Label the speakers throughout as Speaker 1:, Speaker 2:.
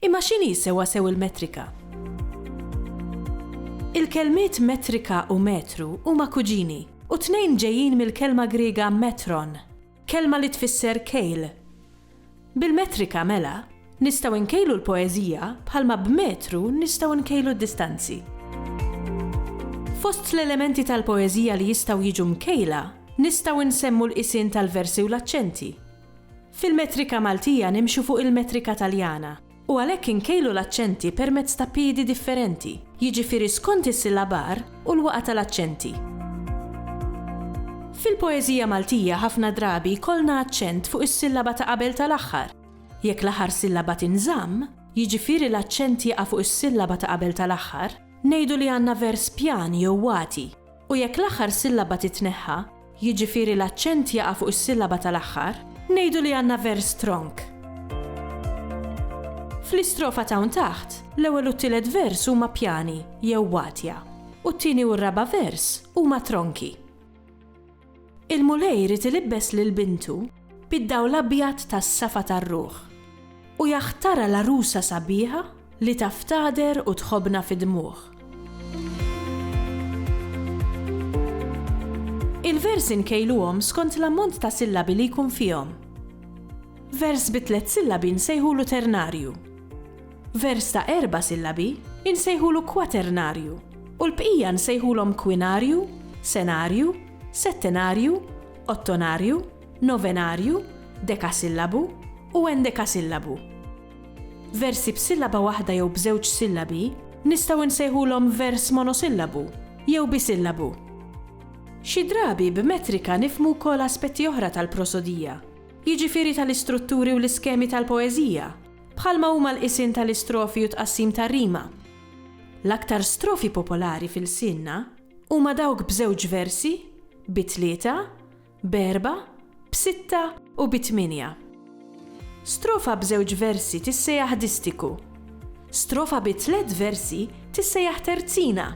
Speaker 1: Imma x'inhi sewwasew il-metrika? Il-kelmiet metrika u metru huma kuġini, u t-tnejn ġejjin mill-kelma Griega metron, kelma li tfisser kejl. Bil-metrika, mela, nistgħu nkejlu l-poeżija bħalma b'metru nistgħu nkejlu d-distanzi. Fost l-elementi tal-poeżija li jistgħu jiġu mkejla, nistgħu nsemmu l-qisien tal-versi u l-aċċenti. Fil-metrika Maltija nimxu fuq il-metrika Taljana u għalhekk inkejlu l-aċċenti permezz ta' piedi differenti, jiġifieri skont is-sillabar u l-waqgħa tal-aċċenti. Fil-poeżija Maltija ħafna drabi jkollna aċċent fuq is-sillaba ta' qabel tal-aħħar. Jekk l-aħħar sillaba tinżamm, jiġifieri l-aċċent jaqa' fuq is-sillaba ta' qabel tal-aħħar, ngħidu li għandna vers pjan jew wati. u jekk l-aħħar sillaba titneħħa, jiġifieri l-aċċent jaqa' fuq is-sillaba tal-aħħar, ngħidu li għandna vers stronk. Fl-istrofa t'hawn taħt, l-ewwel u t-tielet vers huma pjani jew watja, u t-tieni u r-raba' vers huma tronki. Il-Mulej irid ilibbes lil bintu bid-dawl abjad tas-safa tar-ruħ, u jaħtarha l-għarusa sabiħa li taf tagħder u tħobbna fid-dmugħ. Il-versi nkejluhom skont l-ammont ta' sillabi li jkun fihom. Vers bi tliet sillabi nsejħulu ternarju. Vers ta' erba' sillabi nsejħulu kwaternarju u l-bqija nsejħulhom kwinarju, senarju, settenarju, ottonarju, novenarju, dekasillabu u endekasillabu. Versi b'sillaba waħda jew b'żewġ sillabi nistgħu nsejħulhom vers monosillabu jew bisillabu. Xi drabi b'metrika nifhmu wkoll aspetti oħra tal-prosodija, jiġifieri tal-istrutturi u l-iskemi tal-poeżija, bħalma huma l-qisien tal-istrofi u t-tqassim tar-rima. L-aktar strofi popolari f'ilsienna Huma dawk b'żewġ versi, bi tlieta, b'erbgħa, b'sitta u bi tmienja. Strofa b'żewġ versi tissejaħ distiku, strofa bi tliet versi tissejaħ terzina,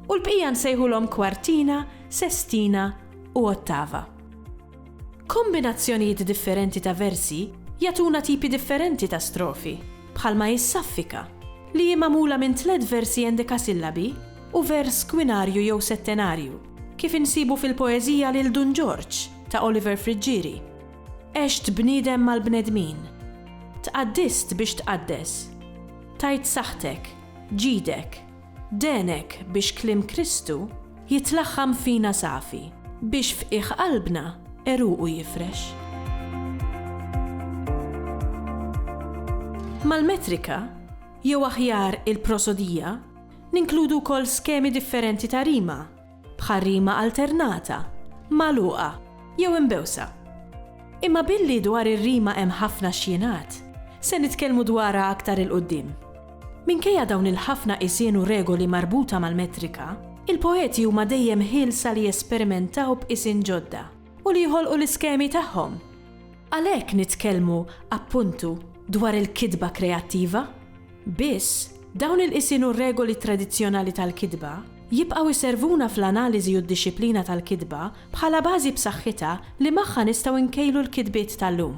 Speaker 1: u l-bqija nsejħulhom kwartina, sestina u ottava. Kombinazzjonijiet differenti ta' versi jagħtuna tipi differenti ta' strofi, bħalma hi s-saffika, li hi magħmula minn tliet versi endekasillabi u vers kwinarju jew settenarju, kif insibu fil-poeżija Lil Dun Ġorġ ta' Oliver Friggieri, Għext bniedem mal-bnedmin. Tqaddist biex tqaddes. Tajt saħħtek. Ġidek. Dehnek biex kliem Kristu jitlaħħam fina safi. Biex f'qiegħ qalbna għeruqu jifrex. Mal-metrika, jew aħjar il-prosodija, ninkludu wkoll skemi differenti ta' rima. b'ħarrima alternata, magħluqa jew imbewsa. Imma billi dwar ir-rima hemm ħafna x'jingħad, se nitkellmu dwarha aktar 'il quddiem. Minkejja dawn il-ħafna qisien u regoli marbuta mal-metrika, il-poeti huma dejjem ħielsa li jesperimentaw b'qisien ġodda u li jħolqu l-iskemi tagħhom. Għalhekk nitkellmu, appuntu, dwar il-kitba kreattiva. Biss, dawn il-qisien u r-regoli tradizzjonali tal-kitba jibqgħu jservuna fl-analiżi u d-dixxiplina tal-kitba bħala bażi b'saħħitha li magħha nistgħu nkejlu l-kitbiet tal-lum.